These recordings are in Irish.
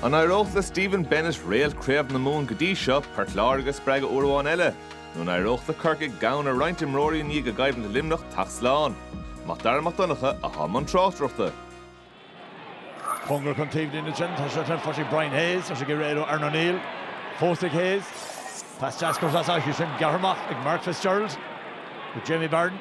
An éireodh le Stephen Bennett réalt Chraobh na Mumhan go dtí seo, Port Láirge, a spreagadh uair amháin eile? Nó an éireodh le Corcaigh gann roinnt imreoirí i ndiaidh a gcoimhlint i Luimneach teacht slán? Mac Dara Mac Donncha atá i mbun tráchtaireachta. Bóthar chun taobhlíne ansin, tá sé sin faighte ag Brian Hayes, tá sé ag iarraidh éalú Aaron O'Neill. Fós ag Hayes. Pas deas gearr as áit ansin, gearrtha amach ag Mark Fitzgerald. Jamie Barron.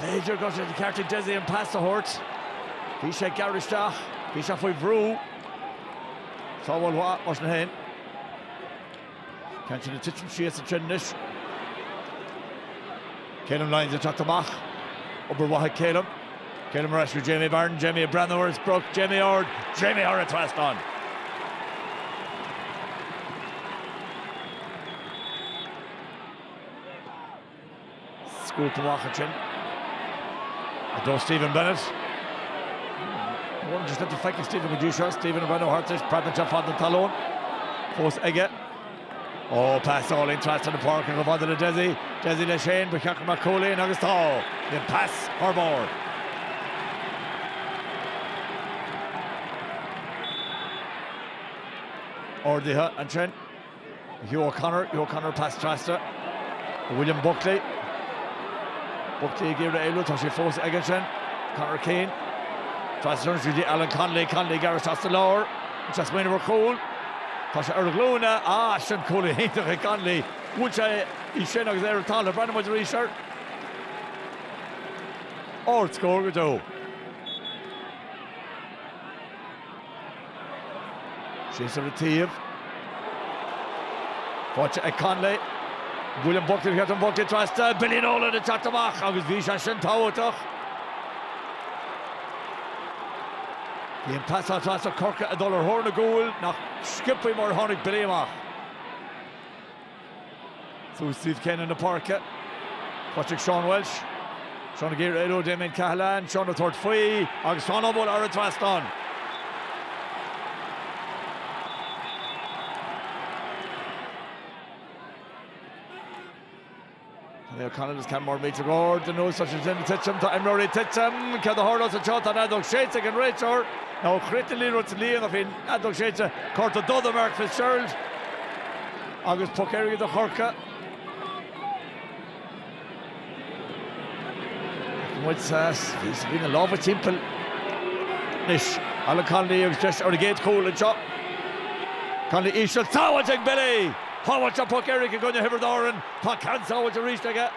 B'fhéidir go raibh sé de cheart ag Dessie an pas a thabhairt. Bhí sé ag gearradh isteach. Bhí sé faoi bhrú. Sábháil mhaith, mar sin féin. An ceann sin ag titim síos ansin anois. Calum Lyons ag teacht amach. Obair mhaith ag Calum. Calum ar ais go Jamie Barron. Jamie ag breathnú ar an sprioc. Jamie ard. Jamie thar an trasnán. Scuabtha amach ansin do Stephen Bennett. Níl mórán den sliotar feicthe ag Stephen go dtí seo. Stephen ag breathnú thart leis. Preabadh anseo fad na talún. Fós aige. Ó, pas álainn trasna na páirce chomh fada le Dessie. Dessie le Shane, ba cheart go mbeadh cúl ann agus tá. Bhí an pas thar barr. Ardaithe ansin. Hugh O'Connor, Hugh O'Connor pas trasna do William Buckley. Buckley ag iarraidh éalú, tá sé fós aige ansin. Conor Keane, trasna ansin go dtí Alan Connolly, Connolly ag gearradh isteach sa lár, is é ag smaoineamh ar chúl. Tá sé ar a ghlúine, ah sin cúl iontach ag Connolly, bhuail sé í sin agus é ar an talamh, breathnóidh muid arís air, ard-scór go deo. Shane ar an taobh. Faighte ag Connolly. William Buckley ag gearradh, Buckley trasna. Billy Nolan ag teacht amach agus bhí sé sin tábhachtach. Bhí an pas ann trasna Corcaigh ag dul ar thóir na gcúl, nach sciobtha mar a tháinig Billy amach. Suas an taobh céanna den pháirc. Faighte ag Seán Walsh. Seán ag iarraidh éalú ó Damien Cahalane. Seán ag tabhairt faoi agus Seán á bualadh thar an trasnán. Connie O'Connell is ceann mór i dtreo go leor den ansin ag titim. Tá imreoirí ag titim. Céard a tharlós anseo? Tá an fheadóg séidte ag an réiteoir, ó chríochnaigh an liathróid sa líon ach bhí an fheadóg séidte. Cárta dubh do Mark Fitzgerald agus poc éirice do Chorcaigh. Tá muid sa bhí na lámha timpeall anois. Alan Connolly agus deis ar an gcéad chúl anseo. Connolly íseal sábháilte ag Billy. Shábháil sé an puc éirice i gcoinne Thiobraid Árann. Tá ceann sábháilte arís aige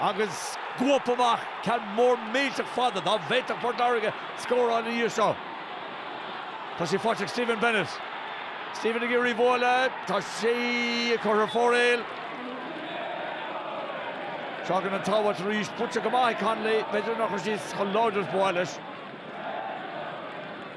agus scuabtha amach ceann mór millteach fada. Dá bhféadfadh Port Láirge scóráil ina dhiaidh seo. Tá sé faighte ag Stephen Bennett. Stephen ag iarraidh bualadh. Tá sé curtha ar fóraoil. Tagann an tsábháil arís. Buailte go maith ag Connolly. B'fhéidir nach raibh sí chomh láidir is ba mhaith leis.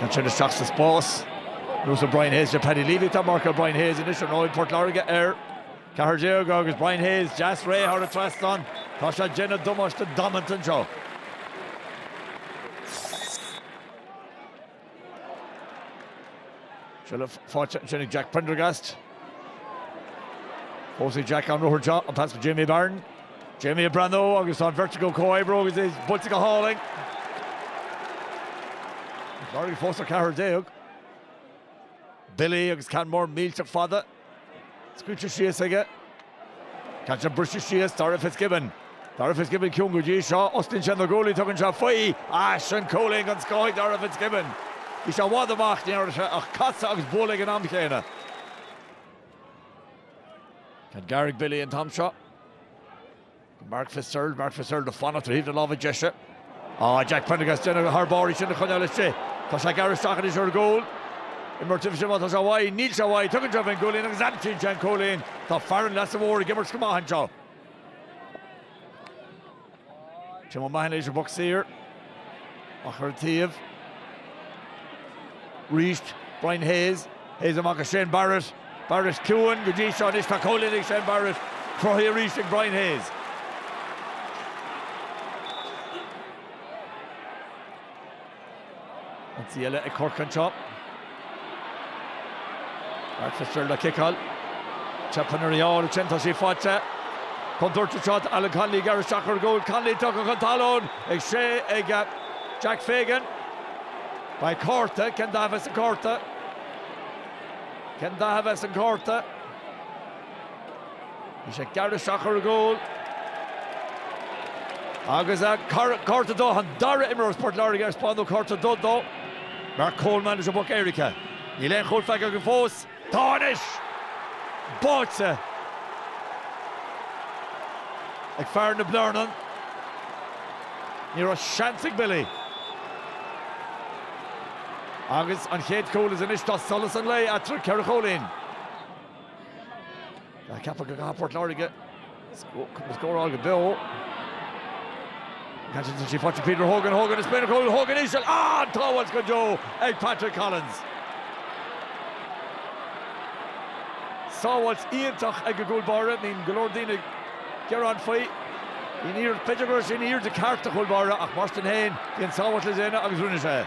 Tá sin isteach sa spás. Luas ag Brian Hayes sé Paddy Leavey atá ag marcáil Brian Hayes anois ar ndóigh. Port Láirge ar 14 agus Brian Hayes deas réidh thar an trasnán. Tá sé ag déanamh damáiste damanta anseo. Seilbh faighte ansin ag Jack Prendergast. Thosaigh Jack an ruathar seo, an pas go Jamie Barron. Jamie ag breathnú agus tá an bheirt acu ag comhoibriú agus é buailte go hálainn. Port Láirge fós ar 14. Billy agus ceann mór millteach fada. Scaoilte síos aige. Caithfidh sé briseadh síos, Darragh Fitzgibbon. Darragh Fitzgibbon ciúin go dtí seo, osclaíonn sé na guaillí, tugann sé faoi. Á, sin cúilín den scoth ag Darragh Fitzgibbon. Bhí sé i bhfad amach, ní raibh sé ach casadh agus bualadh ag an am chéanna. Ceann gearr ag Billy an t-am seo? Mark Fitzgerald, Mark Fitzgerald ag fanacht ar thaobh na láimhe deise. Á, Jack Prendergast déanamh thar barr í sin a choinneáil istigh. Tá sé ag gearradh isteach anois ar gcúl. Imreoir taobh leis má tá sé uaidh, níl sé uaidh, tugann sé faoin gcúilín agus aimsíonn sé an cúilín. Tá fear an Leasa Mhóir ag imirt go maith anseo. Tim O'Mahony leis an bpuc saor. Amach ar an taobh arís, Brian Hayes. Hayes amach go Shane Barrett. Barrett ciúin go dtí seo anois tá cúilín ag Shane Barrett. Cruthaithe arís ag Brian Hayes. Seans eile ag Corcaigh anseo. Mark Fitzgerald ag ciceáil. Teipeann air í a fháil ansin, tá sí faighte. Contúirt anseo, Alan Connolly ag gearradh isteach ar gcúl. Connolly tugtha chun talún ag sé ag Jack Fagan. Beidh cárta, cén dath a bheidh san cárta? Cén dath a bheidh san cárta? Bhí sé ag gearradh isteach ar gcúl agus cárta dubh, an dara imreoir as Port Láirge ar spáineadh cárta dubh dó Mark Coleman leis an bpuc éirice. Níl aon chúl faighte againn fós. Tá anois! Báite ag fear na Blarnan. Ní raibh seans ag Billy. Agus an chéad cúl is anois tá solas an lae eatarthu ceithre chúilín. Tá ceapadh go gcaithfidh Port Láirge scóráil go beo. Caite aige go dtí Peter Hogan, Hogan os béal an chúil, Hogan íseal, an tsábháil go deo ag Patrick Collins. Sábháilt iontach ag an gcúlbáire, bíonn go leor daoine ag gearán faoi. B'fhéidir go raibh sé ina aoirde ceart do chúlbáire ach mar sin féin bhí an tsábháil le déanamh agus rinne sé é.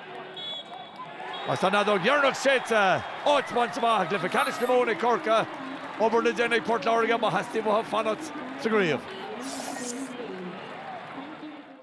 Agus an fheadóg dheireanach séidte, áit bainte amach i gcluiche ceannais na Mumhan ag Corcaigh, obair le déanamh ag Port Láirge má theastaíonn uathu fanacht sa gcraobh.